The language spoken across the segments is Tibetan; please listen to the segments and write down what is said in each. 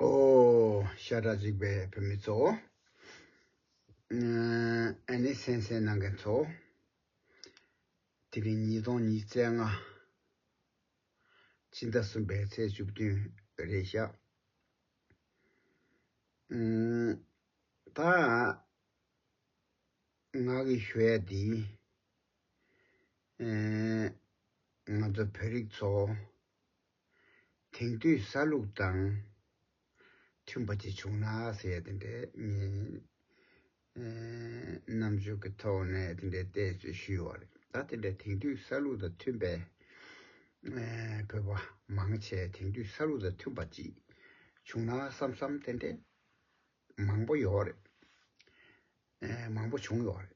ཨོ། ཤ་ཁྲག་གཅིག་པའི་བུད་མེད་ཚོ། ཨ་ནི་སེང་སེང་གནང་མཁན་ཚོ། དེ་རིང་ཉིས་སྟོང་ཉིས་བརྩེགས་ལྔ། སྤྱི་ཟླ་གསུམ་པའི་ཚེས་བཅུ་བདུན་རེད་ཤག། ད། ང་གི་ཞུ་ཡ་འདི། ང་ཚོ་བོད་རིགས་ཚོ། དེང་དུས་ས་ལུགས་དང་མཐུན་པ་ཅིག་བྱུང་ན་ཟེར་ཡ་དེ་འདྲའི་རྣམ་འགྱུར་གྱི་ཐོག་ནས་དེ་འདྲའི་བལྟས་ཚོད་ཞུས་ཡོད་རེད་ད་དེ་འདྲའི་དེང་དུས་ས་ལུགས་དང་མཐུན་པའི་བོད་པ་མང་ཆེ་དེང་དུས་ས་ལུགས་དང་མཐུན་པ་ཅིག་བྱུང་ན་བསམ་བསམ་དེ་འདྲའི་མང་པོ་ཡོད་རེད་མང་པོ་བྱུང་ཡོད་རེད་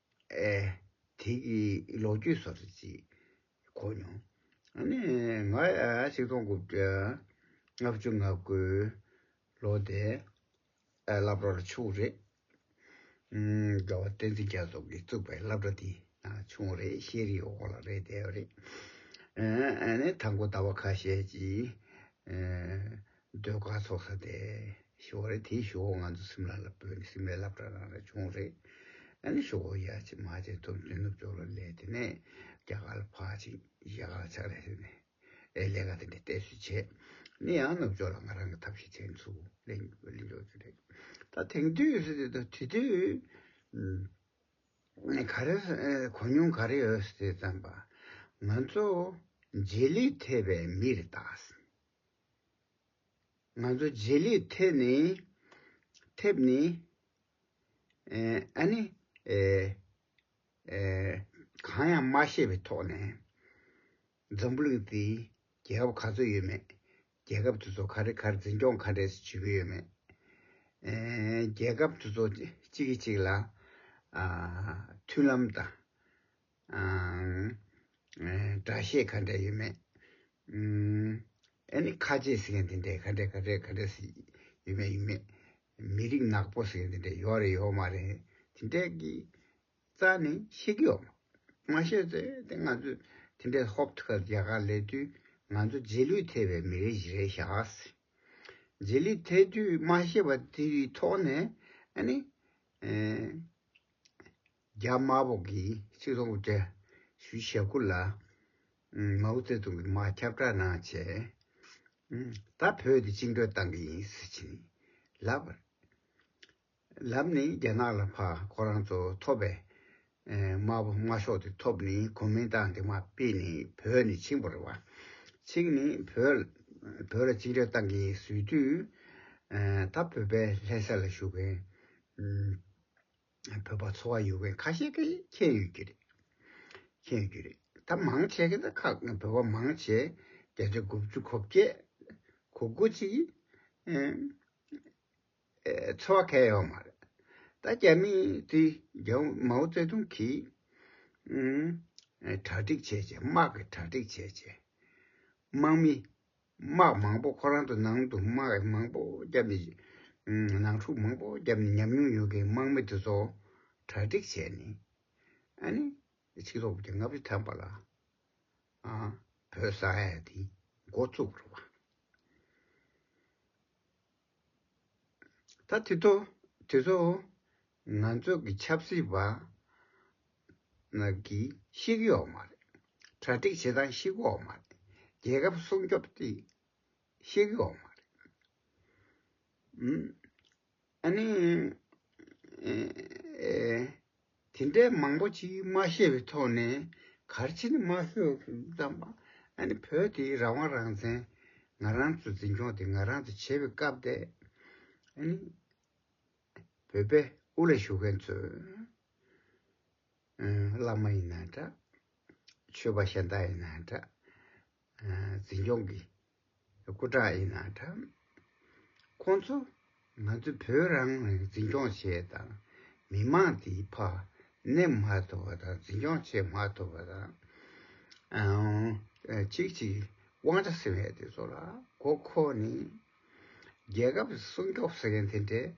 ཨེ། དེ་གི་ལོ་རྒྱུས་སོགས་རེ་ཅིག་གོ་མྱོང། ཨ་ནི་ང་ཆིག་སྟོང་དགུ་བརྒྱ་ལྔ་བཅུ་ང་དགུ་ལོ་དེ་བླ་བྲོར་ཕྱུག་རེད། རྒྱལ་བ་བསྟན་འཛིན་རྒྱ་མཚོ་གིས་བཙུགས་པའི་བླ་བྲོ་དེ་ཕྱུག་རེད་ཤེས་རིག་འོག་ལ་རེད་བསྡད་པ་རེད། ཨེ་ནི་ད་མགོ་ཟླ་བ་ཁ་ཤས་ཀྱིས་ཟློས་གར་ཚོགས་ས་དེ་ཞོག་ཁོ་རེ་དེའི་ཞོག་ཁོ་ང་ཚོ་སིམ་ལ་ལ་བོད་ནས་སིམ་ལའི་ལབ་གྲ་རང་རེ་བྱུང་རེད་ཨ་ནི་ཞོག་ཁོ་ཡ་ཆེ་མ་ཆེ་ཐུབ་བསྟུན་ནུབ་ཕྱོགས་ལ་ལས་དེ་ནས་རྒྱ་གར་ལ་ཕག་ཅིང་རྒྱ་གར་ལ་ཕྱག་ལས་ཞུས་ནས་ཨའི་ལས་ཀ་དེ་འདྲ་གཏད་སོས་བྱས་ནས་ཡང་ནུབ་ཕྱོགས་ལ་ང་རང་གི་ཐབས་ཤེས་ཚད་མཚུ་ལེན་རྒྱུ་རེད་ད་དེང་དུས་སུ་དེ་དུས་དེ་དུས་ག་རེ་གོ་མྱོང་ག་རེ་ཡོད་སེ་བརྩམས་པ་ང་ཚོ་རྗེས་ལུས་ཐེབས་པའི་མི་རེ་ད་སིན། ང་ཚོ་རྗེས་ལུས་ཐེབས་ནི། ཐེབས་ནི། ཨ་ནི། གང་ཡང་མ་ཤེས་པའི་ཐོག་ནས། འཛམ་བུ་གླིང་འདི་རྒྱལ་ཁབ་ག་ཚོད་ཡོད་མེད། རྒྱལ་ཁབ་དེ་ཚོ་ག་རེ་གར་འཛིན་སྐྱོང་ག་རེ་བྱེད་ཀྱི་ཡོད་མེད། རྒྱལ་ཁབ་དེ་ཚོ་གཅིག་གིས་གཅིག་ལ། མཐུན་ལམ་དང། སྒྲ་བཤད་ག་འདྲ་ཡོད་མེད། ཨཱ་ནི་ཁ་ཆེ་ཟེར་མཁན་དེ་འདྲ་ག་འདྲ་ག་འདྲ་ག་འདྲ་ཟེར་ཡོད་མེད་ཡོད་མེད། མི་རིགས་ནག་པོ་ཟེར་མཁན་དེ་འདྲ་ཡོད་རེད་ཡོད་མ་རེད་དེ་འདྲ་གི་རྩ་ནས་ཤེས་ཀྱི་ཡོད་མ་མ་ཤེས་ཚེ་དེ་ང་ཚོས་དེ་འདྲ་ཧོབ་ཐུག་ག་རྒྱ་གར་ལས་དུས་ང་ཚོ་རྗེས་ལུས་ཐེབས་པའི་མི་རིགས་ཞིག་རེད་ཤག་རྗེས་ལུས་ཐེབས་དུས་མ་ཤེས་པ་དེའི་ཐོག་ནས་ཨཱ་ནི། རྒྱ་དམར་པོ་གིས་སྤྱི་ཚོགས་འགོ་ཁྲིད་ཞུ་ཞེ་དགུ་ལ། མའོ་ཙེ་ཏུང་གིས་དམག་ཁྱབ་སྦྲགས་གནང་བྱས། ད་བོད་དེ་བཅིངས་འགྲོལ་བཏང་གི་ཡིན་ཟེར་གྱིན་ལབ། ལབ་ནི་རྒྱ་ནག་ལ་ཕ་ཁོ་རང་ཚོ་ཐོབ་པའི་དམར་པོ་དམར་ཤོག་དེ་ཐོབ་ནི་གོ་མིན་ཏང་དེ་མ་སྤེལ་ནི་བོད་ནི་བཅིངས་པ་རེད་བ། བཅིངས་ནི་བོད་བོད་ལ་བཅིངས་འགྲོལ་བཏང་གི་ཡིན་ཟོས་དུས། ད་བོད་པའི་ལྷས་ས་ལ་བཞུགས་མཁན། བོད་པ་ཚོ་བ་ཡོད་མཁན་ཁ་ཤས་ཀྱིས་མཁྱེན་ཡོད་ཀྱི་རེད། མཁྱེན་ཡོད་ཀྱི་རེད། ད་མང་ཆེ་གེ་ད་ཁག་བོད་པ་མང་ཆེ་བརྒྱ་ཆ་དགུ་བཅུ་གོ་བརྒྱད། གོ་དགུ་ཅིག་གིས་ཚོ་བ་ཁ་ཡོད་མ་རེད། ད་རྒྱ་མི་དེ་མའོ་ཙེ་ཏུང་གིས་གྲ་སྒྲིག་བྱས་བྱས་དམག་གིས་གྲ་སྒྲིག་བྱས་བྱས་དམག་མི་དམག་མང་པོ་ཁོ་རང་ཚོ་ནང་དུ་དམག་མང་པོ་བརྒྱབ་ནས་ནང་འཁྲུག་མང་པོ་བརྒྱབ་ནས་ཉམས་མྱོང་ཡོད་མཁན་དམག་མི་དེ་ཚོ་གྲ་སྒྲིག་བྱས་ནས་ཨ་ནི་ཕྱི་ལོག་གི་ལྔ་བཅུ་ཐམ་པ་ལ་བོད་ས་ཡ་དེ་འགོ་བཙུགས་པ་རེད། ད་དེ་ཚོ་ང་ཚོ་གི་ཆབ་སྲིད་པ་རྣམས་ཀྱིས་བཤིག་ཡོག་མ་རེད། གྲ་སྒྲིག་བྱེད་སྟངས་བཤིག་ཡོག་མ་རེད། རྒྱལ་ཁབ་སྲུང་སྐྱོབ་དེ་བཤིག་ཡོག་མ་རེད། ཨ་ནི། དེ་འདྲའི་མང་པོ་ཅིག་མ་ཤེས་པའི་ཐོག་ནས་གར་ཕྱིན་མ་ཤོར་བསམ་པ། ཨ་ནི་བོད་དེ་རང་དབང་རང་བཙན་ང་རང་ཚོ་འཛིན་སྐྱོང་དེ་ང་རང་ཚོ་བྱེད་པའི་སྐབས་དེ། ཨ་ནི་བོད་པའི་དབུ་ལ་བཞུགས་མཁན་ཚོས། བླ་མ་ཡིན་ན་འདྲ། ཆོས་པ་གཞན་དག་ཡིན་ན་འདྲ། འཛིན་སྐྱོང་གི་སྐུ་དྲག་ཡིན་ན་འདྲ། ཁོང་ཚོ་ང་ཚོ་བོད་རང་ལ་འཛིན་སྐྱོང་བྱེད་དང་མི་མང་དེ་ཕ་གནས་མ་ཐུབ་པ་དང་འཛིན་སྐྱོང་བྱེད་མ་ཐུབ་པ་དང། ཅིག་ཅིག་དབང་ཆ་ཟེར་བའི་དེ་ཚོ་ལ་མགོ་འཁོར་ནས། རྒྱལ་ཁབ་སྲུང་སྐྱོབ་ཟེར་མཁན་དེ་འདྲས།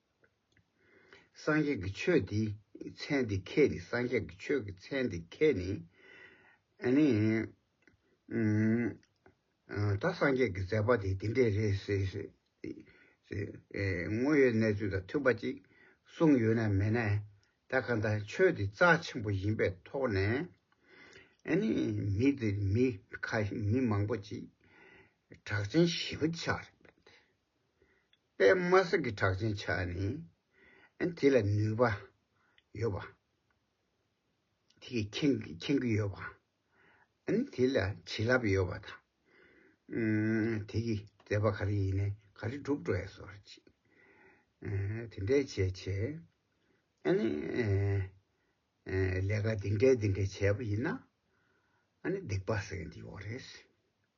སངས་རྒྱས་ཀྱི་ཆོས་དེའི་མཚན་དེ་ཁས་ནི་སངས་རྒྱས་ཀྱི་ཆོས་ཀྱི་མཚན་དེ་ཁས་ནི། ད་སངས་རྒྱས་ཀྱི་མཛད་པ་དེ་འདི་འདྲས་རེད་ཟེར་ཞེས་དངོས་ཡོད་གནས་ཚུལ་དང་མཐུན་པ་ཅིག་གསུངས་ཡོད་ནའི་མེད་ནའི་ད་ག་འདྲ་ཆོས་འདི་རྩ་ཆེན་པོ་ཡིན་པའི་ཐོག་ནས་མི་མང་པོ་ཅིག་གྲགས་ཅན་ཞི་བ་ཆགས་རེད། པདྨ་གསེར་གྱི་བྲག་ཅན་ཆགས་ནས། དེ་ལ་ནུས་པ་ཡོད་པ། དེ་ཁེངས་རྒྱུ་ཡོད་པ། དེ་ལ་བྱིན་རླབས་ཡོད་པ་དང། དེ་ཀྱི་མཛད་པ་ག་རེ་ཡིན་ནས་ག་རེ་བསྒྲུབ་འགྲོ་ཡ་སོགས་རེ་བྱེད། དེ་འདྲའི་བྱས་བྱས། ལས་ཀ་འདི་འདྲའི་འདི་འདྲའི་བྱས་པ་ཡིན་ན། སྡིག་པ་བསལ་འདི་འོག་རེད།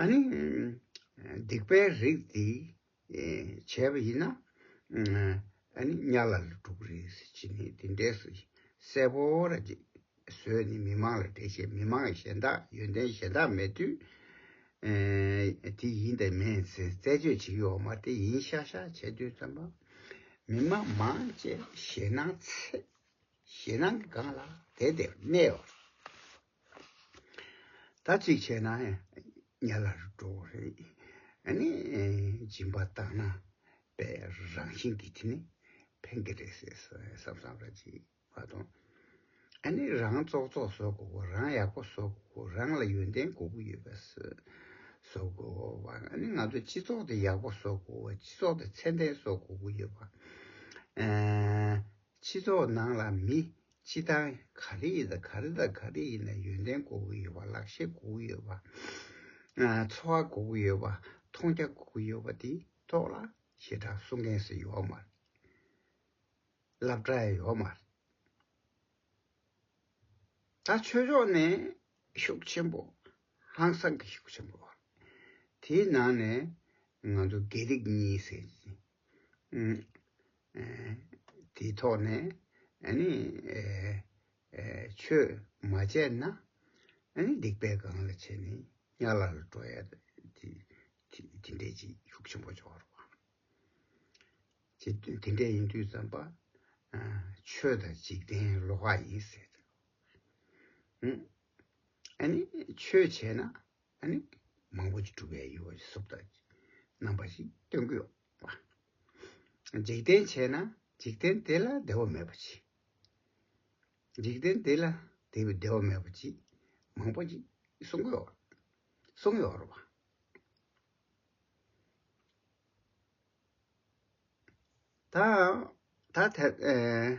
ཨཱ་ནི། སྡིག་པའི་རིགས་འདི་བྱས་པ་ཡིན་ན། ཨཱ་ནི་གཉའ་ལ་ལ་དྲུག་རེས་བྱིན་ནས་དེ་འདྲའི་སྲས་པོ་ལ་བཟོས་ནས་མི་མང་ལ་འགྲེལ་བྱེད་མི་མང་གཞན་དག་ཡོན་ཏན་གཞན་དག་མེད་དུས། དེ་ཡིན་དེ་མིན་ཚེ་རྩད་གཅོད་བྱེད་ཀྱི་འོག་མ་དེ་ཡིན་ཤག་ཤག་བྱས་དུས་ཙམ་པ། མི་མང་མང་བཅས་ཞེད་སྣང་ཚེ། ཞེད་སྣང་གི་སྒང་ལ་དེ་དེར་གནས་པ། ད་གཅིག་བྱས་ན་ཉལ་ལ་འགྲོ་གི་རེད། ཨ་ནི་སྦྱིན་པ་བཏང་ན་པའི་རང་བཞིན་གྱི་དེ་ནི་ཕན་གི་རེད་ཟེར་བསམ་བསམ་ར་གཅིག་མ་གཏོང། ཨ་ནི་རང་བཙོག་བཙོག་བཟོ་དགོས་གོ་རང་ཡག་པོ་བཟོ་དགོས་གོ་རང་ལ་ཡོན་ཏན་གོ་གི་ཡོད་པ་བཟོ་དགོས་གོ་བ་ཨ་ནི་ང་ཚོ་སྤྱི་ཚོགས་དེ་ཡག་པོ་བཟོ་དགོས་གོ་བ་སྤྱི་ཚོགས་དེ་ཚད་ལྡན་བཟོ་དགོས་གི་ཡོད་པ། ཕྱི་ཚོགས་ནང་ལ་མི་སྤྱི་དང་ག་རེ་ཡི་དང་ག་རེ་དང་ག་རེ་ཡིན་ན་ཡོན་ཏན་དགོས་ཀྱི་ཡོད་པ་ལག་ཤེས་དགོས་ཀྱི་ཡོད་པ། འཚོ་བ་དགོས་ཀྱི་ཡོད་པ་མཐོང་རྒྱ་དགོས་ཀྱི་ཡོད་པ་དེ་ཐོག་ལ་ཞེ་དྲག་གསུང་མཁན་སུ་ཡོད་མ་རེད། ལབ་གྲ་ཡོད་མ་རེད། ད་ཆོས་ཕྱོགས་ནས་ཤུགས་ཆེན་པོ་ཧང་སང་གི་ཤུགས་ཆེན་པོ། དེའི་ནང་ནས་ང་ཚོ་དགེ་ལེགས་གཉིས་ཟེར་གྱི་དེའི་ཐོག་ནས་ནི་ཆོས་མ་སྤྱད་ན་སྡིག་པས་གང་ལ་བྱས་ནས་ཡར་ལ་ལ་འགྲོ་ཡ། དེ་འདྲའི་ཅི་ཤུགས་ཆེན་པོ་འཇོག་རོགས། དེ་འདྲས་ཡིན་དུས་བརྩམས་པ་ཆོས་དང་འཇིག་རྟེན་ལོག་ཁ་ཡིན་ཟེར། ཨ་ནི་ཆོས་བྱས་ན་ནི་མང་པོ་ཅིག་གྲུབ་པའི་ཡུལ་བ་ཞིག་གསུབ་ཐབས་ཀྱི་རྣམ་པ་ཞིག་སྟོན་གྱི་ཡོད་པ། འཇིག་རྟེན་བྱས་ན་འཇིག་རྟེན་དེ་ལ་བདེ་བ་མེད་པ་ཅིག། འཇིག་རྟེན་དེ་ལ་དེ་བས་བདེ་བ་མེད་པ་ཅིག་མང་པོ་ཅིག་གསུང་གི་ཡོད་གསུང་གི་ཡོད་པ། ད་ཐལ།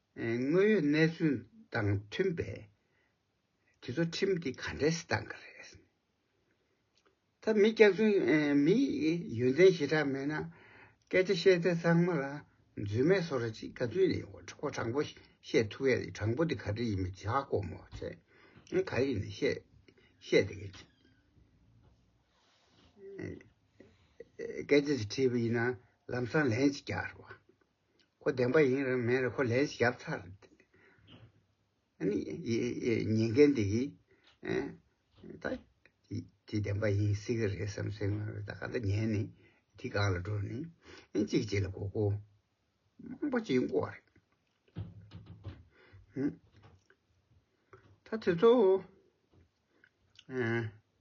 དངོས་ཡོད་གནས་ཚུལ་དང་མཐུན་པས་དེ་ཚོ་ཁྲིམས་འདི་ག་འདྲས་སུ་བཏང་གི་རེད། ད་མི་སྐྱག་རྫུན་མི་ཡོན་ཏན་ཞེ་དྲག་མེད་ན་སྐད་ཆ་བཤད་ཚད་ཚང་མ་ལ་རྫུན་མེད་བཟོ་ར་ཅིག་ག་རྫུན་ནི་གོ་དྲང་པོ་བཤད་ཐུབ་ཡ་རེད་དྲང་པོ་འདི་ག་འདྲས་ཡིན་མི་ཇག་སྒོར་མོ་ཚད་ག་རེ་ཡིན་ནས་བཤད་དེ་ག་ཅིག་སྐད་ཆ་ཞིག་བྲིས་པ་ཡིན་ན་ལམ་སང་ལན་ཅིག་རྒྱག་རོགས། ཁོ་བདེན་པ་ཡིན་རུང་མིན་རུང་ཁོ་ལན་ཞིག་བརྒྱབ་ཚར། ཉན་མཁན་དེ་གིས་ད་དེ་བདེན་པ་ཡིན་སྲིད་ཀྱི་རེད་བསམ་སའི་ངང་ལ་ད་ག་ད་ཉན་ནས་དེ་སྒང་ལ་འགྲོ་ནས་གཅིག་གཅིག་ལ་གོ་སྐོ་མང་པོ་བྱེད་འགོ་བ་རེད། ད་དེ་ཚོ་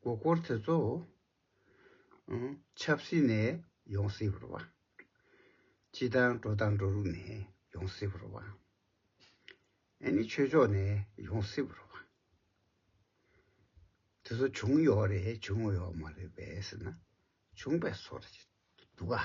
གོ་སྐོར་དེ་ཚོ། ཆབ་སྲིད་ནས་ཡོང་སྲིད་པར་བ། སྤྱི་དང་འགྲོ་དང་འགྲོ་ལུགས་ནས་ཡོང་སྲིད་པར་བ། ཨེ་ནི་ཆོས་ཕྱོགས་ནས་ཡོང་སྲིད་པར་བ། དེ་ཚོ་བྱུང་ཡོད་རེད་བྱུང་ཡོད་མ་རེད་བས་ཟེར་ན་བྱུང་བས་སོ་རེད་འདུག་ག།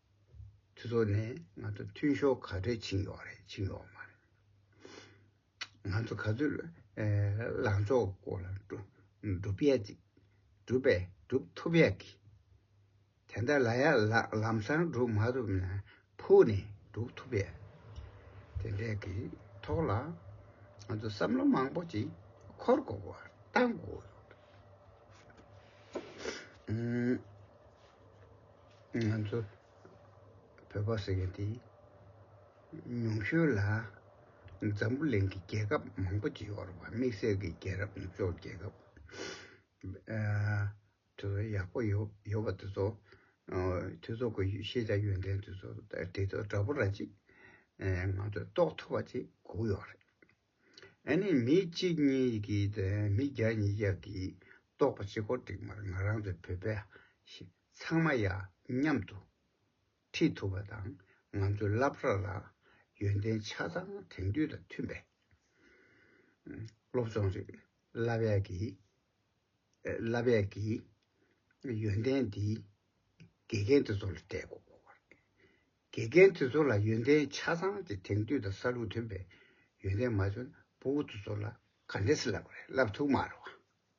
ཚུལ་ཐོག་ནས་ང་ཚོ་མཐུན་ཤོག་ག་ཚོད་ཕྱིན་ཡོག་རེད་ཕྱིན་ཡོག་མ་རེད། ང་ཚོ་ག་ཚོད་ལངས་ཕྱོགས་སྐོར་ལ་སྒྲུབ་ཡག་ཅིག་སྒྲུབ་པས་སྒྲུབ་ཐུབ་ཡག་གི། དེ་འདྲ་ལ་ཡག་ལམ་སང་སྒྲུབ་མ་ཐུབ་ན་ཕུགས་ནས་སྒྲུབ་ཐུབ་ཡག་དེ་འདྲ་གི་ཐོག་ལ་ང་ཚོ་བསམ་བློ་མང་པོ་ཅིག་འཁོར་དགོས་པ་གཏང་དགོས་ཡོག་རེད། ང་ཚོ་བོད་པ་ཟེར་མཁན་དེ་ཉུང་ཤོས་ལ་འཛམ་བུ་གླིང་གི་རྒྱལ་ཁབ་མང་པོ་ཅིག་ཡོད་རེད་བ་དམིགས་བསལ་གྱི་རྒྱལ་རབས་ནུབ་ཕྱོགས་རྒྱལ་ཁབ་དེ་ཚོ་ཡག་པོ་ཡོད་པ་དེ་ཚོ་དེ་ཚོ་གི་ཤེས་བྱ་ཡོན་ཏན་དེ་ཚོ་དེ་ཚོ་འདྲ་པོ་ར་ཅིག་ང་ཚོས་རྟོགས་ཐུབ་པ་ཅིག་སྒུག་ཡོད་རེད། ཨ་ནི་མི་གཅིག་གཉིས་ཀྱིས་དང་མི་བརྒྱ་ཉིས་བརྒྱ་གིས་རྟོགས་པ་ཅི་དགོས་འགྲིག་མ་རེད་ང་རང་ཚོ་བོད་པས་ཤེས། ཚང་མ་ཡག་མཉམ་དུ་ཁྲིད་ཐུབ་པ་དང་ང་ཚོའི་སླ་བར་ལ་ཡོན་ཏན་ཆ་ཚང་དེང་དུས་དང་མཐུན་པའི་སློབ་སྦྱོང་རིགས་སླ་བས་ཀྱིས་སླ་བས་ཀྱིས་ཡོན་ཏན་འདིས་དགེ་རྒན་དེ་ཚོ་ལ་སྤྲད་དགོས། དགེ་རྒན་དེ་ཚོ་ལ་ཡོན་ཏན་ཆ་ཚང་དེ་དེང་དུས་དང་ས་ལུགས་མཐུན་པའི་ཡོན་ཏན་མ་བྱུང་ན་བུ་དེ་ཚོ་ལ་ག་འདྲས་སླ་བ་རེད་སླ་བ་ཐུག་མ་རེད་བ།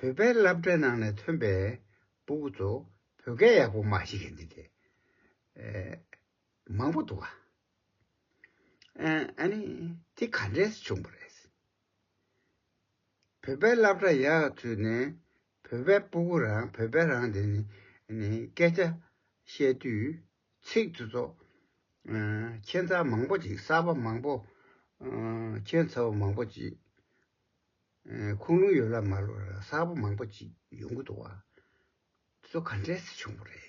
བོད་པའི་སླབ་གྲྭའི་ནང་ནས་ཐོན་པའི་སྤུ་གུ་ཚོ་བོད་སྐད་ཡག་པོ་མ་ཤེས་མཁན་དེ་མང་པོ་འདུག་ཨ་ནི་དེ་ག་འདྲས་སུ་བྱུང་བ་རེད། བོད་པའི་སླབ་གྲྭ་ཡག་ཚུལ་ནས་བོད་པའི་སྤུ་གུ་རང་བོད་པའི་རང་དེ་ནས་སྐད་ཆ་བཤད་དུས་ཚིག་དེ་ཚོ་ཁྱད་མཚར་མང་པོ་ཅིག་གསར་པ་མང་པོ་ཁྱད་མཚར་བ་མང་པོ་ཅིག་ཁུངས་ལུང་ཡོད་ལབ་མ་ལོ་ར་གསར་པོ་མང་པོ་ཅིག་ཡོང་གི་འདུག་བ་ཚོ་ག་འདྲས་སུ་བྱུང་བ་རེད།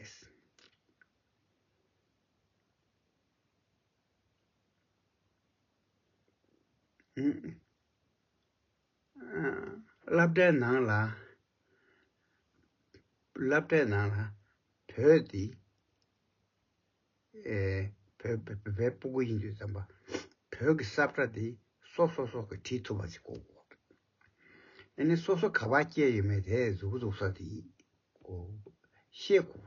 བསླབ་གྲྭའི་ནང་ལ་བོད་དེ། བའི་སྤུ་གུ་ཡིན་དུས་བརྩམས་པ། བོད་ཀྱི་སྲབ་ཁྲ་དེ་སོ་སོ་སོགས་ཀྱིས་བྲིས་ཐུབ་པ་ཞིག་གོ། ཨ་ནི་སོ་སོ་ག་བ་སྐྱེས་ཡོད་མེད་དེ་གཟུགས་པོ་འཛུགས་ས་དེ་ཡིན་གོ། ཤེས་གོ།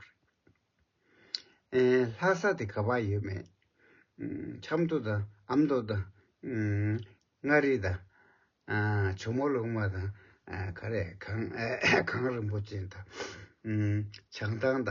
ལྷག་ས་དེ་ག་བ་ཡོད་མེད། ཆབ་མདོ་དང་ཨ་མདོ་དང། མངའ་རིས་དང། ཇོ་མོ་ལུགས་མ་དང། ག་རེ་གངས་རིན་པོ་ཅན་དང། བྱང་ཐང་དང།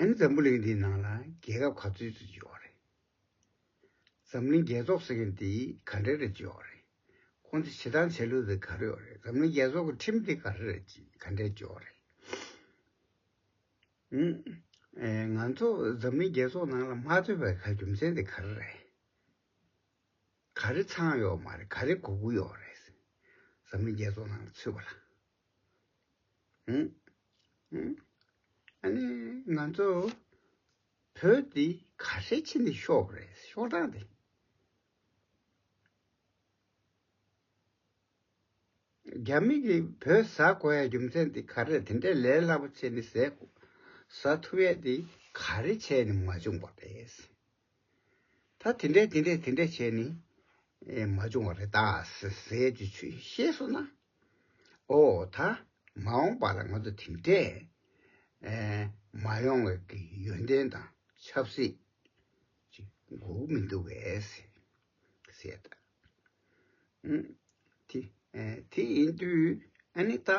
ཨ་ནི་འཛམ་བུ་གླིང་འདིའི་ནང་ལ་རྒྱལ་ཁབ་ག་ཚོད་ཅིག་ཡོད་རེད། འཛམ་གླིང་རྒྱལ་ཚོགས་ཟེར་མཁན་དེ་ག་འདྲ་རེ་ཅིག་ཡོད་རེད། ཁོང་ཚོ་བྱེད་སྟངས་བྱ་ལུགས་དེ་ག་རེ་ཡོད་རེད། འཛམ་གླིང་རྒྱལ་ཚོགས་ཀྱི་ཁྲིམས་དེ་ག་རེ་རེ་ཅིག་ག་འདྲ་ཅིག་ཡོད་རེད། ང་ཚོ་འཛམ་གླིང་རྒྱལ་ཚོགས་ནང་ལ་མ་ཚོད་པའི་ག་རྒྱུ་མཚན་དེ་ག་རེ་རེད། ག་རེ་ཚངས་གཡོག་མ་རེད་ག་རེ་གུ་གུ་གཡོག་རེད། འཛམ་གླིང་རྒྱལ་ཚོགས་ནང་ལ་ཚུད་པ་ལ། ཨ་ནི་ང་ཚོ་བོད་འདི་ག་ཧྲལ་ཆེ་ནི་ཤོག་རེད་ཤོག་གྲངས་འདི། རྒྱ་མི་གི་བོད་ཟ་དགོས་ཡ་རྒྱུ་མཚན་འདི་ག་རེད་དེ་འདྲའི་ལས་སླ་པོ་ཆེ་ནི་ཟས་ཟ་ཐུབ་ཡ་འདི་ག་རེ་བྱས་ནི་མ་བྱུང་པ་རེད། ད་དེ་འདྲས་དེ་འདྲས་དེ་འདྲས་བྱས་ནས་མ་བྱུང་བ་རེད་ཟེར་རྒྱུ་ཤེས་སོང་ན། ཨོ་ད་མ་འོངས་པ་ལ་ང་ཚོ་དེ་འདྲས་མ་ཡོང་བའི་ཡོན་ཏན་དང་ཆབ་སྲིད་ཅིག་འགོག་མི་འདུག་བས་ཟེར། དེ་ཡིན་དུས་ཨ་ནི་ད་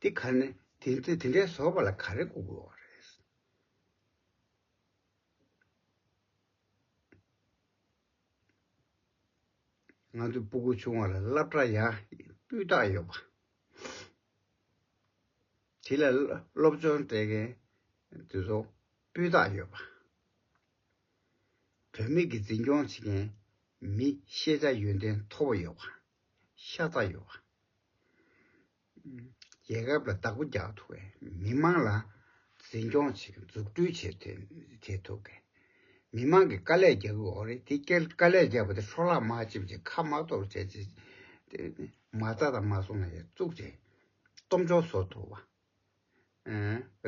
དེ་ག་ནས་དེ་འདྲས་བཟོ་བ་ལ་ག་རེ་འགོག་དགོས་བ་རེད། ང་ཚོས་སྤུ་གུ་ཆུང་བ་ལ་བསླབ་གྲྭ་ཡང་སྤུས་དག་ཡོད་པ། དེ་ལ་སློབ་སྦྱོང་སྤྲད་མཁན་དེ་ཚོ་སྤུས་དག་ཡོད་པ། བུད་མེད་ཀྱི་འཛིན་སྐྱོང་བྱེད་མཁན་མི་ཤེས་བྱ་ཡོན་ཏན་མཐོ་བོ་ཡོད་པ། ཤ་ཚ་ཡོད་པ། རྒྱལ་ཁབ་ལ་བདག་པོ་རྒྱག་ཐུབ་པའི་མི་དམངས་ལ་འཛིན་སྐྱོང་བྱེད་མཁན་འཛུགས་སྐྲུན་བྱེད་ཐུབ་དགོས། མི་དམངས་ཀྱིས་དཀའ་ལས་རྒྱག་གི་འོག་རེད་དེ་སྐད་དཀའ་ལས་རྒྱག་པ་དེ་འཕྲོ་བརླག་མ་བྱེད་ཅེས་ཁ་མ་གཏོགས་བྱས་རྗེས་མ་རྩ་དང་མ་སོང་ན་ཡར་བཙུགས་རྗེས་སྟོབས་འབྱོར་བཟོ་ཐུབ།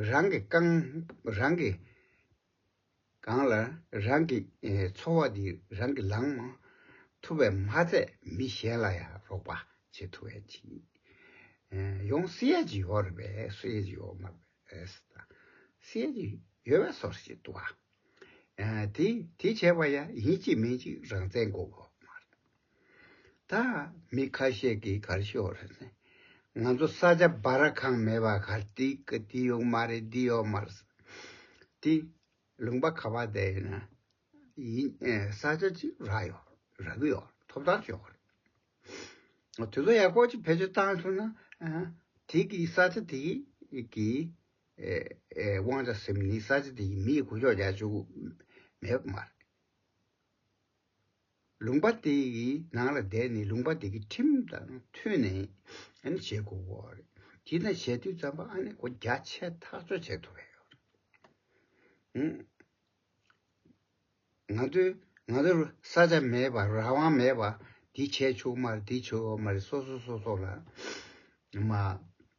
རང་གི་རྐང་རང་གིས་གང་ལ་རང་གི་འཚོ་བ་འདི་རང་གིས་ལང་མ་ཐུབ་པས་མ་ཚད་མི་གཞན་ལ་ཡང་རོགས་པ་བྱེད་ཐུབ་བས་ཅི། ཡོང་སྲིད་ཡ་ཅི་ཡོད་རེད་པས་སྲིད་ཡ་ཅི་ཡོད་མ་རེད་པས་དང། སྲིད་ཡ་ཅི་ཡོད་པས་སོར་བཞི་བཏུ་བ། དེ་བྱས་པ་ཡ་ཡིན་གཅིག་མིན་གཅིག་རང་བཙན་འགོག་པ་མ་རེད། ད་མི་ཁ་ཤས་ཀྱིས་གར་ཤོག་རེད་ཟེར། ང་ཚོ་ས་ཆ་སྦ་ར་ཁང་མེད་པར་གར་འདི་ཡོག་མ་རེད་འདི་ཡོག་མ་རེད་ཟེར། དེ་ལུང་པ་ཁ་བ་བསྡད་ཡོད་ན་ཡིན་ས་ཆ་གཅིག་རག་ཡོག་རག་གི་ཡོག་ཐོབ་ཐང་ཤོག་རེད། དེ་ཚོ་ཡག་པོ་ཅིག་བེད་སྤྱོད་བཏང་ཐུབ་ན་དེ་གི་ས་ཆ་དེ་གི་དབང་ཆ་སེམས་ནི་ས་ཆ་དེ་གི་མི་གི་གུ་ཤོག་རྒྱག་ཆོག་གི་མེད་པ་མ་རེད། ལུང་པ་དེ་ཡི་ནང་ལ་བསྡད་ནས་ལུང་པ་དེ་གི་ཁྲིམས་དང་མཐུན་ནས་ཨ་ནི་བྱེད་དགོས་པ་རེད་དེ་དང་བྱེད་དུས་ཙམ་པ་ཨ་ནི་སྒོ་རྒྱ་ཆེ་ཐག་གཅོད་བྱེད་ཐུབ་པ་ཡོད་ང་ཚོའི་ང་ཚོར་ས་ཆ་མེད་པ་རང་དབང་མེད་པ་འདི་བྱས་ཆོག་མ་རེད་འདི་བྱས་ཆོག་མ་རེད་སོ་སོ་སོ་སོ་ལ་མ།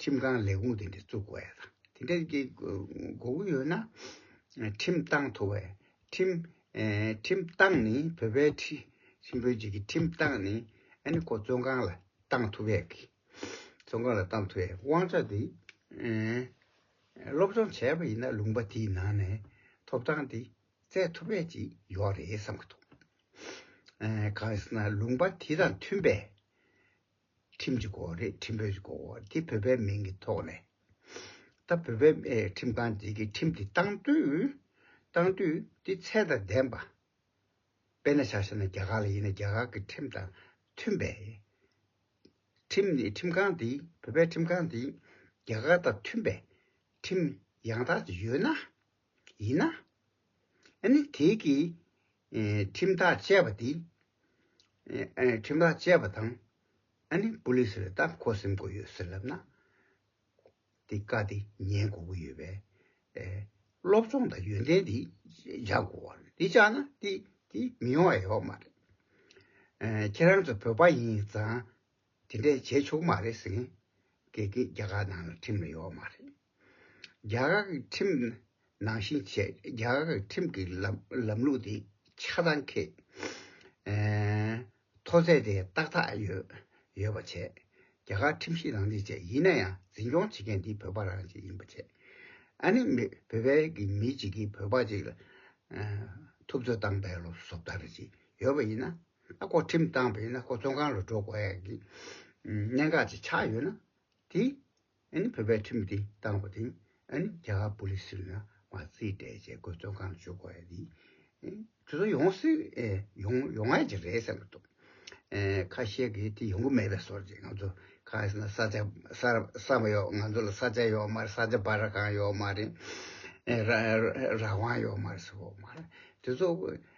ཁྲིམས་ཁང་ལས་ཁུངས་དེ་འདྲ་བཙུགས་དགོས་ཡ་དང་དེ་འདྲ་དགོས་ཀྱི་ཡོད་ན། ཁྲིམས་ཏང་ཐོ་བས་ཁྲིམས། ཁྲིམས་ཏང་ནི་བོད་པའི་ཁྲིམས་བོད་བརྒྱུད་ཀྱི་ཁྲིམས་ཏང་ནི་ཨ་ནི་ཁོ་བཙོན་ཁང་ལ་ཏང་ཐོ་བས་ཀྱི། བཙོན་ཁང་ལ་ཏང་ཐོ་བས་དབང་ཆ་དེ། སློབ་སྦྱོང་བྱས་པ་ཡིན་ན་ལུང་པ་དེའི་ནང་ནས་ཐོབ་ཐང་དེ་བཙལ་ཐུབ་པའི་ཅིག་ཡོད་རེད་བསམ་གྱི་འདུག་གང་ཡིན་ཟེར་ན་ལུང་པ་དེ་དང་མཐུན་པའི། ཁྲིམས་ཀྱི་སྐོར་རེད་ཁྲིམས་བོད་ཀྱི་སྐོར་དེ་བོད་པའི་མིང་གི་ཐོག་ནས་ད་བོད་པའི་ཁྲིམས་ཁང་བརྗེ་གི་ཁྲིམས་དེ་བཏང་དུས་བཏང་དུས་དེ་ཚད་དང་ལྡན་པ་དཔེ་ན་ཆགས་ཤེ་ན་རྒྱ་གར་ལ་ཡིན་ན་རྒྱ་གར་གི་ཁྲིམས་དང་མཐུན་པའི་ཁྲིམས་ནི་ཁྲིམས་ཁང་དེ་བོད་པའི་ཁྲིམས་ཁང་དེ་རྒྱ་གར་དང་མཐུན་པའི་ཁྲིམས་ཡང་དག་ཅིག་ཡོད་ན། ཡིན་ན། ཨ་ནི་དེའི་གིས། ཁྲིམས་ཐག་བཅད་པ་དེ། ཁྲིམས་ཐག་བཅད་པ་དང། ཨ་ནི་པོ་ལིས་རེ་ད་ཁོ་སེམས་གོ་ཡོད་ཟེར་ལབ་ན། དེ་བཀའ་དེ་ཉན་གོ་གི་ཡོད་པས། སློབ་སྦྱོང་དང་ཡོན་ཏན་དེ་བཞག་གོ་བ་རེད་དེ་བཅག་ན་དེ་དེ་མི་ཡོང་བ་ཡོད་མ་རེད། ཁྱེད་རང་ཚོ་བོད་པ་ཡིན་ཙང་དེ་འདྲས་བྱས་ཆོག་གི་མ་རེད་ཟེར་མཁན། དགེ་རྒན་རྒྱ་གར་ནང་ལ་ཁྲིམས་ལ་ཡོད་མ་རེད། རྒྱ་གར་གྱི་ཁྲིམས་ནང་བཞིན་བྱས། རྒྱ་གར་གྱི་ཁྲིམས་ཀྱི་ལམ་ལུགས་དེ་ཆ་ཚང་ཁེ། མཐོ་ཚད་དེ་ཏག་ཏག་ཡོད་ཡོད་པ་བྱས། རྒྱ་གར་ཁྲིམས་བཞིན་རང་བྱས་བྱས་ཡིན་ན་ཡང་འཛིན་སྐྱོང་བྱེད་མཁན་དེ་བོད་པ་རང་བྱས་ཡིན་པ་བྱས། ཨ་ནི་མི་བོད་པའི་གི་མི་གཅིག་གིས་བོད་པ་གཅིག་ལ་ཐུབ་ཚོད་བཏང་བས་ལོ་སོབ་ད་རེ་ཅིག་ཡོད་པ་ཡིན་ན། ཨ་ཁོ་ཁྲིམས་བཏང་བས་ན་ཁོ་བཙོན་ཁང་ལ་འགྲོ་དགོས་ཡ་གི་གནད་འགག་ཅིག་ཆགས་ཡོད་ན་དེ། ཨ་ནི་བོད་པའི་ཁྲིམས་དེ་བཏང་བ་དེ་ཨ་ནི་རྒྱ་གར་པོ་ལིས་ལ་མ་རྩིས་སྤྲད་ཅེས་དགོས་དོན་གང་བརྗོད་དགོས་ཡ་དེ་དེ་ཚོ་ཡོང་སྲིད་ཡོང་ཡོང་ཡ་གྱི་རེད་བསམ་གྱི་འདུག་ཁ་ཤས་ཀྱིས་དེ་ཡོང་གི་མེད་པའི་སོར་རྗེས་ང་ཚོ་ཁ་ས་ན་ས་ཆ་ས་མ་ཡོག་ང་ཚོ་ལ་ས་ཆ་ཡོག་མ་རེད་ས་ཆ་བར་གང་ཡོག་མ་རེད་རང་དབང་ཡོག་མ་རེད་ཟེར་བ་མ་རེད་དེ་ཚོ་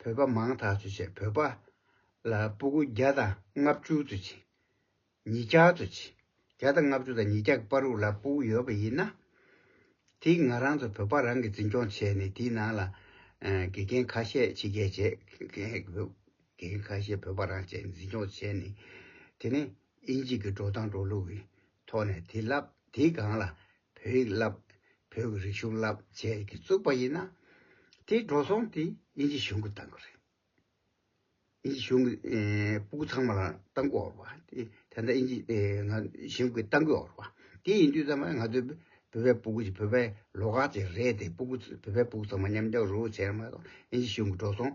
བོད་པ་མང་དག་ཚུལ་བྱས་བོད་པ་ལ་སྤུ་གུ་བརྒྱ་དང་ལྔ་བཅུ་དུ་བྱིན། ཉིས་བརྒྱ་དུ་བྱིན། བརྒྱ་དང་ལྔ་བཅུ་དང་ཉིས་བརྒྱ་གི་པར་རུག་ལ་སྤུ་གུ་ཡོད་པ་ཡིན་ན། དེ་ང་རང་ཚོ་བོད་པ་རང་གིས་འཛིན་སྐྱོང་བྱས་ནས་དེའི་ནང་ལ་དགེ་རྒན་ཁ་ཤས་ཕྱི་རྒྱལ་བྱས། དགེ་རྒན་ཁ་ཤས་བོད་པ་རང་བྱས་འཛིན་སྐྱོང་བྱས་ནས་དེ་ནས་ཨིན་ཇི་གི་འགྲོ་སྟངས་འགྲོ་ལུགས་ཡིན། ཐོག་ནས་དེ་བསླབ་དེའི་སྒང་ལ་བོད་ཡིག་བསླབ། བོད་ཀྱི་རིག་གཞུང་བསླབ་བྱས་ཀྱི་བཙུགས་པ་ཡིན་ན། དེའི་འགྲོ་སོང་དེ་དབྱིན་ཇི་གཞུང་གིས་བཏང་གི་རེད། དབྱིན་ཇི་གཞུང་གིས་སྤུ་གུ་ཚང་མ་ལ་བཏང་གི་འོར་བ། དེ་འདྲ་དབྱིན་ཇི་གཞུང་གིས་བཏང་གི་འོར་བ། དེ་ཡིན་དུས་ཚང་མ་ང་ཚོའི་བོད་པའི་སྤུ་གུ་ཞིག་བོད་པའི་ལོགས་ཁག་ཅིག་རེད་དེ་སྤུ་གུ་བོད་པའི་སྤུ་གུ་ཚང་མ་མཉམ་སྦྱོར་རོགས་བྱས་ན་མ་གཏོགས་དབྱིན་ཇི་གཞུང་གི་འགྲོ་སོང།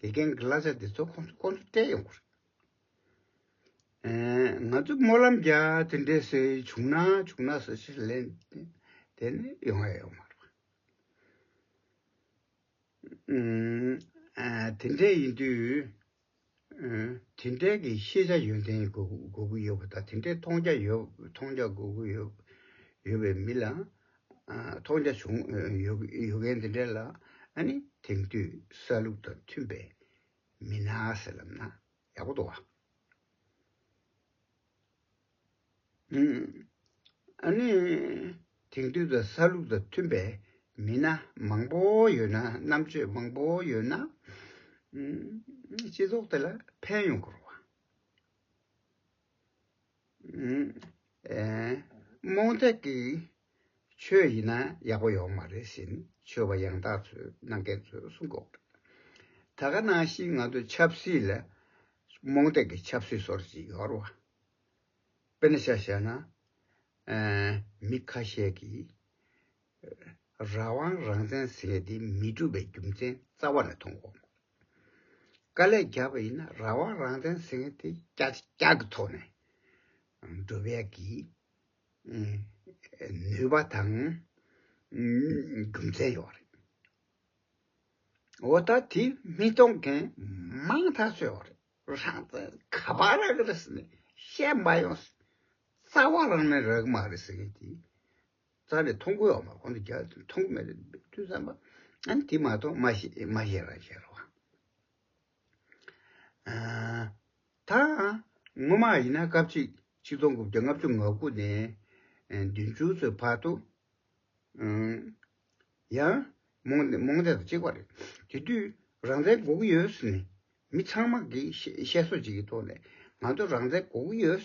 དགེ་རྒན་གྱི་གླ་ཆ་དེ་ཚོ་ཁོ་ཚོ་སྤྲད་ཡོང་གི་རེད། ང་ཚོས་སྨོན་ལམ་རྒྱག་དེ་འདྲའི་སྲོལ་བྱུང་ན་བྱུང་ན་སོ་ཞེས་ལན་དེ་ནི་ཡོང་ཡ་ཡོད་མ་རེད། དེ་འདྲ་ཡིན་དུས་དེ་འདྲ་གི་ཤེས་བྱ་ཡོན་ཏན་དགོས་ཀྱི་ཡོད་པ་དང་དེ་འདྲའི་མཐོང་རྒྱ་དགོས་ཀྱི་ཡོད་པའི་མི་ལ། མཐོང་རྒྱ་བྱུང་ཡོད་མཁན་དེ་འདྲ་ལ་དེང་དུས་ས་ལུགས་དང་མཐུན་པའི་མི་སྣ་ཟེར་ལབ་ན་ཡག་པོ་འདུག་བ། དེང་དུས་ད་ས་ལུགས་དང་མཐུན་པའི་མི་སྣ་མང་པོ་ཡོད་ན་རྣམ་དཔྱོད་མང་པོ་ཡོད་ན་སྤྱི་ཚོགས་དེ་ལ་ཕན་ཡོང་དགོས་རུང་བ། རྨོངས་དད་ཀྱི་ཆོས་ཡིན་ན་ཡག་པོ་ཡོད་མ་རེད་བཞིན་ཆོས་པ་ཡང་དག་ཚོས་གནང་མཁན་ཚོས་གསུང་གོ། ད་ག་ནང་བཞིན་ང་ཚོ་ཆབ་སྲིད་ལ་རྨོངས་དད་ཀྱི་ཆབ་སྲིད་ཟོར་ཅིག་ཡོད་རེད་བ། དཔེར་ན་ཤ་བཤད་ན། མི་ཁ་ཤས་ཀྱིས་རང་དབང་རང་བཙན་ཟེར་བ་འདི་མི་སྒྲུབ་པའི་རྒྱུ་མཚན་རྩ་བ་ནས་མཐོང་གོ། དཀའ་ལས་རྒྱག་པ་ཡིན་ན་རང་དབང་རང་བཙན་ཟེར་མཁན་དེ་ཀྱག་ཀྱག་གི་ཐོག་ནས་སྒྲུབ་ཡ་གི། ནུས་པ་དང་རྒྱུ་མཚན་ཡོད་རེད། འོ་ད་དེ་མི་གཏོང་མཁན་མང་ཐག་ཆོད་ཡོད་རེད། རང་བཙན་ག་པར་རག་གི་རེད་ཟེར་ནས་བཤད་མ་ཡོང། རྩ་བ་རང་ནས་རག་གི་མ་རེད་ཟེར་མཁན་དེ་རྩ་རེ་མཐོང་གོ་ཡོང་བ་གོང་དུ་རྒྱག་ཅིང་མཐོང་གི་མེད་རེ་འདུག་བསམ་པ། ཨང་དེ་མ་གཏོགས་མ་ཤེས་རང་ཤེས་རང་ཤེས་རེད། ད་སྔོན་མ་ཡིན་ན་སྐབས་གཅིག་ཆིག་སྟོང་དགུ་བརྒྱ་ལྔ་བཅུ་ང་དགུ་ནས་བདུན་ཅུ་ཚོའི་བར་དུ། ཡང་རྨོངས་དད་དང་གཅིག་པ་རེད། དེ་དུས་རང་བཙན་དགོས་ཀྱི་ཡོད་ཟེར་ནས་མི་ཚང་མ་གིས་བཤད་སྲོལ་གཅིག་གི་ཐོག་ནས་ང་ཚོ་རང་བཙན་དགོས་ཀྱི་ཡོད།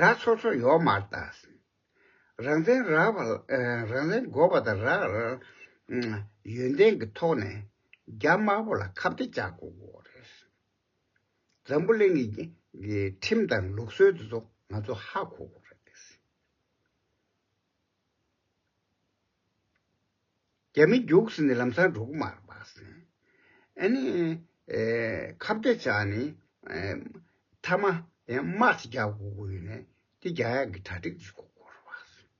ར་ཚོ་ཚོ་ཡོག་མར་བཏགས། རང་བཙན་རག་པ་རང་བཙན་དགོས་པ་དང་རག་ཡོན་ཏན་གྱི་ཐོག་ནས་རྒྱ་དམར་པོ་ལ་ཁ་བརྡ་བཅག་དགོས་རེད། འཛམ་བུ་གླིང་གི་ཁྲིམས་དང་ལུགས་སྲོལ་དེ་ཚོ་ང་ཚོ་ཧ་གོ་དགོས་རེད། རྒྱ་མི་རྒྱུགས་ཟིན་ཏེ་ལམ་སང་འབྲུག་མར་སྦགས་ཟིན། ཨ་ནི། ཁ་བརྡ་བྱས་ནས། མཐའ་མ། དམག་ཅིག་རྒྱག་དགོས་དགོས་ཡོད་ནས། དེ་རྒྱག་ཡག་གི་གྲ་སྒྲིག་བྱེད་དགོས་སྐོར་སྦགས་ཟིན།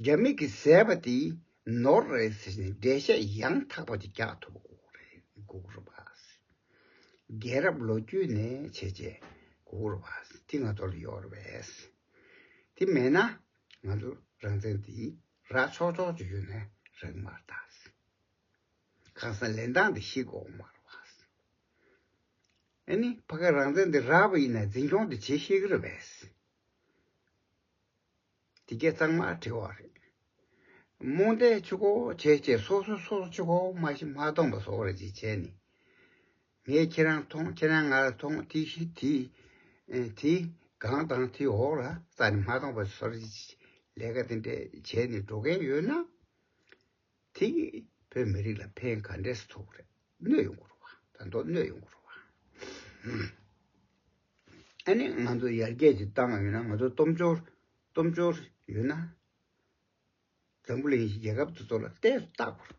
རྒྱ་མི་གི་ཟས་པ་དེ་ནོར་རེད་ཟེར་ནས་འགྲེལ་བཤད་ཡང་དག་པ་དེ་རྒྱག་ཐུབ་དགོས་སྐོར་རེད་སྐོར་སྦགས་ཟིན། རྒྱལ་རབས་ལོ་རྒྱུས་ནས་བྱས་རྗེས་སྐོར་སྦགས་ཟིན་དེ་ང་ཚོ་ལ་ཡོད་རེད། དེ་མེད་ན་ང་ཚོ་རང་བཙན་དེ་ར་ཆོག་ཆོག་བརྗོད་ཡོད་ནའི་རེག་མར་བཏགས་སྲིད། ཁང་སང་ལེན་སྟངས་དེ་ཤེས་དགོས་མ་རེད་བ། ཨེ་ནི་ཕ་ག་རང་བཙན་དེ་ར་བ་ཡིན་ན་འཛིན་སྐྱོང་དེ་བྱེད་ཤེས་གི་རེད་བས། དེ་སྐད་གཙང་མ་དྲི་བ་རེད། རྨོངས་དད་ཆུ་ཁོག་བྱས་བྱས་སོ་སོ་སོ་སོ་ཆུ་ཁོག་མ་ཤི་མ་སྟོང་པ་བཟོ་བར་བྱེད་བྱས་ནི། ངས་ཁྱེད་རང་མཐོང་ཁྱེད་རང་ང་ལ་མཐོང་དེ་བཞིན་དེ། དེ་སྒང་དང་དེ་འོག་ལ་རྩྭ་ནི་མ་བཏང་བར་སོར་བཞི་བྱེད། ལས་ཀ་དེ་འདྲས་བྱས་ནས་འགྲོ་མཁན་ཡོད་ན། དེ་བོད་མི་རིགས་ལ་ཕན་ག་འདྲས་སུ་ཐོགས་རེད་གནོད་ཡོང་གི་རུ་བ་ད་མདོག་གནོད་ཡོང་གི་རུ་བ། ཨ་ནི་ང་ཚོ་ཡར་རྒྱས་ཀྱི་གཏམ་ཡོད་ན་ང་ཚོ་སྟོབས་འབྱོར་སྟོབས་འབྱོར་ཡོད་ན། འཛམ་བུ་གླིང་གཞིས་རྒྱལ་ཁབ་དེ་ཚོ་ལ་བལྟས་སུ་བལྟ་དགོས་རེད།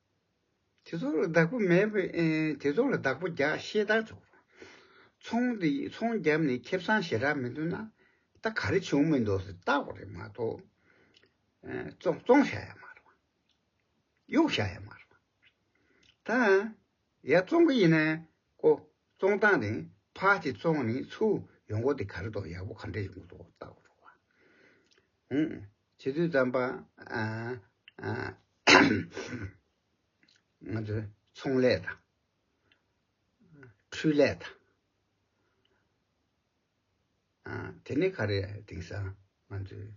དེ་ཚོ་ལ་བདག་པོ་མེད། དེ་ཚོ་ལ་བདག་པོ་བརྒྱག་ཤེས་དར་ཆོག། ཚོང་དེ་ཚོང་བརྒྱབ་ནས་ཁེབས་སང་ཞེ་དྲག་མི་འདུག་ན་ད་ག་རེ་བྱུང་མི་འདུག་ཟེར་བལྟ་བ་རེད་མ་གཏོགས། བཙོང་བཞག་ཡ་མ་རེད། གཡུག་བཞག་ཡ་མ་རེད། ད་ཡ་བཙོང་གི་ཡིན་ན་ཀོ་བཙོང་སྟངས་དེ་ཕ་དེ་བཙོང་ནས་ཚུར་ཡོང་གོ་དེ་ག་རེ་དོག་ཡག་པོ་ག་འདྲ་ཡོང་གི་འདུག་བལྟ་བ་རོགས། བྱེད་དུས་དམ་པ། ང་ཚོ་ཚོང་ལས་དང། འཕྲུལ་ལས་དང། དེ་ནི་ཁ་རས་དེང་སང་ང་ཚོའི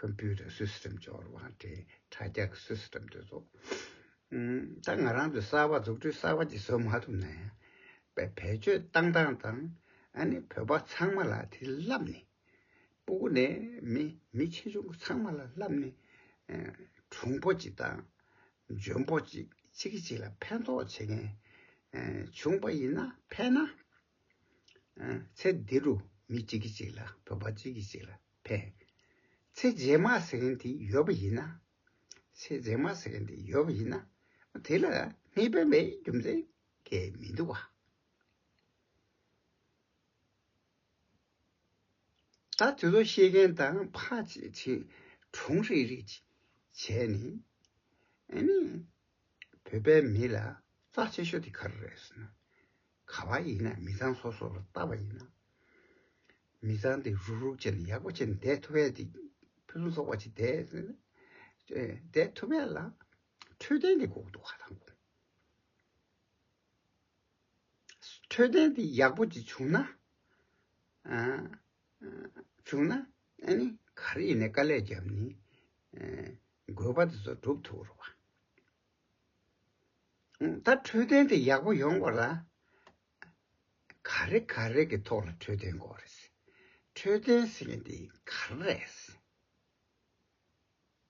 Computer System འབྱོར་བ་དེ་དྲ་རྒྱ་གི System དེ་ཚོ་ད་ང་རང་ཚོས་གསར་བ་འཛུགས་སྐྲུན་གསར་བ་ཅིག་བཟོ་མ་ཐུབ་ན་ཡང་བེད་སྤྱོད་བཏང་བཏང་དང་ཨ་ནི་བོད་པ་ཚང་མ་ལ་དེ་ལབ་ནས་སྤུ་གུ་ནས་མི་ཆེ་ཆུང་ཚང་མ་ལ་ལབ་ནས་གྲུང་པོ་ཅིག་དང་འཇོན་པོ་ཅིག་གཅིག་གིས་གཅིག་ལ་ཕན་ཐོགས་བྱེད་མཁན་བྱུང་པ་ཡིན་ན་ཕན་ན། ཚེ་འདི་རུ་མི་གཅིག་གིས་གཅིག་ལ་བོད་པ་གཅིག་གིས་གཅིག་ལ་ཕན། ཚེ་རྗེས་མ་ཟེར་མཁན་དེ་ཡོད་པ་ཡིན་ན། ཚེ་རྗེས་མ་ཟེར་མཁན་དེ་ཡོད་པ་ཡིན་ན་དེ་ལ་མི་ཕན་པའི་རྒྱུ་མཚན་གས་མི་འདུག་བ། ད་དེ་ཚོ་ཤེས་མཁན་དང་ཕ་བྱེད་ཆེད་གྲོང་རེ་རེ་བྱས་ནས་ཨེ་ནས་བོད་པའི་མི་ལ་རྩ་ཆེ་ཤོས་དེ་ག་རེ་རེད་ཟེར་ན་ག་བ་ཡིན་ན་མི་ཚང་སོ་སོ་ལ་བལྟ་བ་ཡིན་ན་མི་ཚང་དེ་རུག་རུག་བྱས་ནས་ཡག་པོ་བྱས་ནས་བསྡད་ཐུབ་བས་དེ་ཕུན་སུམ་ཚོགས་པ་ཅིག་བསྡད་ཟེར་ན་བསྡད་ཐུབ་བས་ལ་འཕྲོད་བསྟེན་དེ་འགོག་འདུག་ག་དང་འགོག། འཕྲོད་བསྟེན་དེ་ཡག་པོ་ཅིག་བྱུང་ན། བྱུང་ན། ཨ་ནི་ག་རེ་ཡིན་ནའི་དཀའ་ལས་བརྒྱབ་ནས་དགོས་པ་དེ་ཚོ་བསྒྲུབ་ཐུབ་རོགས། ད་འཕྲོད་བསྟེན་དེ་ཡག་པོ་ཡོང་དགོས་ལ། ག་རེ་ག་རེ་གི་ཐོག་ལ་འཕྲོད་བསྟེན་དགོས་རེད། འཕྲོད་བསྟེན་ཟེར་མཁན་དེ་ག་རེ་རེད།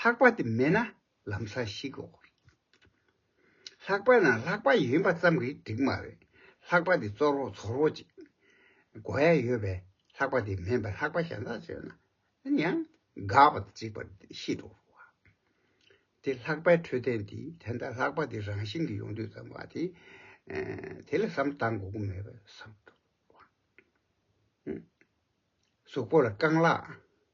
ལྷག་པ་དེ་མེད་ན་ལམ་ས་ཞིག་གོ། ལྷག་པ་ན་ལྷག་པ་ཡིན་པ་ཙམ་གྱིས་འགྲིག་མ་རེད། ལྷག་པ་དེ་བཙོར་བོ་ཚོར་བོ་ཅིག་གོ་ཡ་ཡོད་པས་ལྷག་པ་དེ་མེད་པའི་ལྷག་པ་གཞན་དག་བྱོས་ན་ཡང་དགའ་བ་དང་འཇིགས་པ་ཤི་འགྲོ་བ། དེ་ལྷག་པའི་འཕྲོད་བསྟེན་དེ་དེ་འདྲ་ལྷག་པ་དེ་རང་བཞིན་གྱིས་ཡོང་དུས་ཙམ་བ་དེ་དེ་ལ་བསམ་གཏང་དགོས་མཁོ་མེད་པས་བསམ་འགྲོ་བ། གཟུགས་པོ་ལ་རྐང་ལག་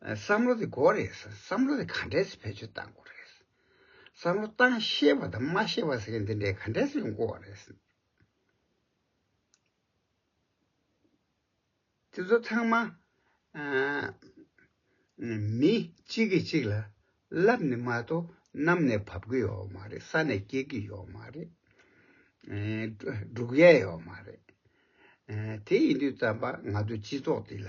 བསམ་བློ་དེ་གོ་རེད་ཟེར་བསམ་བློ་དེ་ག་འདྲས་ཟེར་བེད་སྤྱོད་བཏང་གོ་རེད་ཟེར་བསམ་བློ་བཏང་ཤེས་པ་དང་མ་ཤེས་པ་ཟེར་མཁན་དེ་འདྲས་ག་འདྲས་སུ་ཡོང་གོ་བ་རེད་ཟེར། དེ་ཚོ་ཚང་མ་མི་གཅིག་གིས་གཅིག་ལ་ལབ་ནས་མ་གཏོགས་གནམ་ནས་བབས་ཀྱི་ཡོད་མ་རེད་ས་ནས་སྐྱེས་ཀྱི་ཡོད་མ་རེད། འབྲུག་ཡས་ཡོད་མ་རེད། དེ་ཡིན་དུས་བསམ་པ་ང་ཚོ་སྤྱི་ཚོགས་འདི་ལ་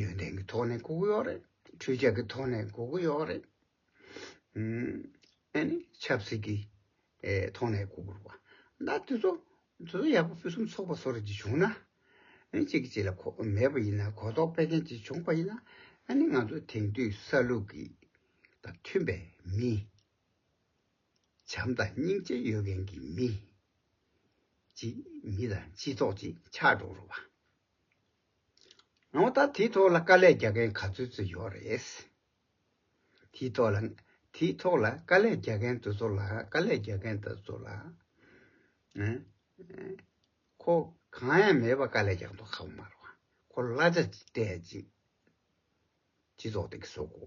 ཡོན་ཏན་གྱི་ཐོག་ནས་བཀུག་གི་ཡོད་རེད་ཁྲུས་ཆབ་ཀྱི་ཐོག་ནས་བཀུག་གི་ཡོད་རེད། ཨ་ནི་ཆབ་སྲིད་ཀྱི་ཐོག་ནས་བཀུག་དགོས་པ། ད་དེ་ཚོ་དེ་ཚོ་ཡག་པོ་ཕུན་སུམ་ཚོགས་པ་སོགས་རེད་ཅེས་བྱུང་ན། གཅིག་གིས་གཅིག་ལ་མེད་པ་ཡིན་ན་གོ་རྟོགས་སྤེལ་མཁན་གཅིག་བྱུང་པ་ཡིན་ན། ཨ་ནི་ང་ཚོ་དེང་དུས་ས་ལུགས་ཀྱི་དང་མཐུན་པའི་མི། བྱམས་དང་སྙིང་རྗེ་ཡོད་མཁན་གྱི་མི། ཅིག་མི་དང་སྤྱི་ཚོགས་ཅིག་ཆགས་འགྲོ་རུ་བ། ངོ་ད་དེའི་ཐོག་ལ་དཀའ་ལས་རྒྱག་མཁན་ག་ཚོད་ཚོད་ཡོད་རེད། དེའི་ཐོག་ལ་དེའི་ཐོག་ལ་དཀའ་ལས་རྒྱག་མཁན་དེ་ཚོ་ལ་དཀའ་ལས་རྒྱག་མཁན་དེ་ཚོ་ལ། ཁོ་གང་ཡང་མེད་པ་དཀའ་ལས་རྒྱག་འདུག་ཁ་བ་མ་རུ་བ། ཁོ་གླ་ཆ་སྤྲད་ཅིག་སྤྱི་ཚོགས་དེ་གི་བཟོ་དགོ།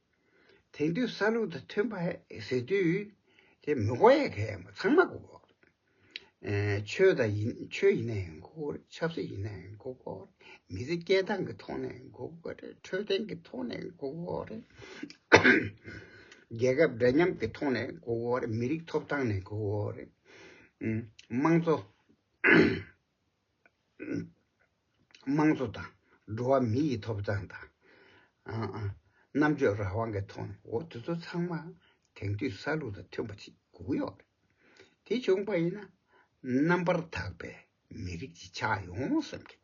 དེང་དུས་ས་ལུགས་དང་མཐུན་པ་ཟེར་དུས་དེ་མི་གོ་ཡ་ག་ཡ་མོ་ཚང་མ་གོ། ཆོས་དང་ཆོས་ཡིན་ན་ཡང་གོ། ཆབ་སྲིད་ཡིན་ན་ཡང་གོ། མི་ཚེ་སྐྱེལ་སྟངས་ཀྱི་ཐོག་ནས་ཡང་གོ། འཕྲོད་བསྟེན་གྱི་ཐོག་ནས་ཡང་གོ། རྒྱལ་ཁབ་འདྲ་མཉམ་གྱི་ཐོག་ནས་ཡང་གོ། མི་རིགས་ཐོབ་ཐང་ནས་ཡང་གོ། དམངས་གཙོ། དམངས་གཙོ་དང་འགྲོ་བ་མི་ཡི་ཐོབ་ཐང་དང་རྣམ་དཔྱོད་རང་དབང་གི་ཐོག་ནས་འོ་དེ་ཚོ་ཚང་མ་དེང་དུས་ས་ལུགས་དང་མཐུན་པ་ཞིག་དགོས་ཀྱི་ཡོད་རེད། དེ་བྱུང་པ་ཡིན་ན་རྣམ་པར་དག་པའི་མི་རིགས་ཅིག་ཆགས་ཡོང་སེམས་ཀྱི།